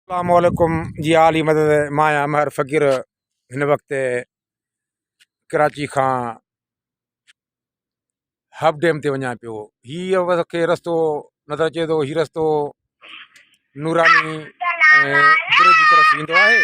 اسلام عليڪم جي عالي مدد مان آهيان امهر فقير هن وقت ڪراچي کان هاف ڊيم تي وڃان پيو هيء ور کي رستو نظر اچي ٿو هي رستو نوراني ۽ برج جي طرف ويندو آهي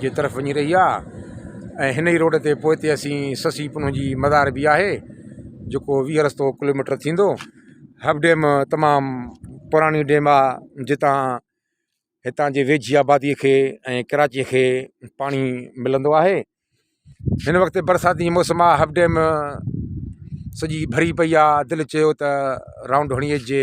جي طرف وڃي رهي آهي ۽ هن ئي روڊ تي پوئتي اسين سسي پنهون جي مزار به آهي جيڪو ويهه رستو ڪلوميٽر ٿيندو هب ڊيم تمام پراڻي ڊيم آهي جتان هتان جي ويجهي آبادي کي ۽ ڪراچي کي پاڻي ملندو آهي هن وقت برساتي موسم آهي هب ڊيم سڄي ڀري پئي آهي دل چيو ته رائونڊ هڻي اچجي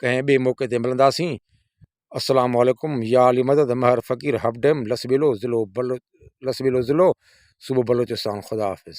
ڪنهن ٻئي موقعي تي ملنداسين السلام عليڪم يا علي مدد مهر فقير هب ڊيم لسٻيلو ضلعو بلو لسٻيلو ضلعو صوبو بلوچستان خدا حافظ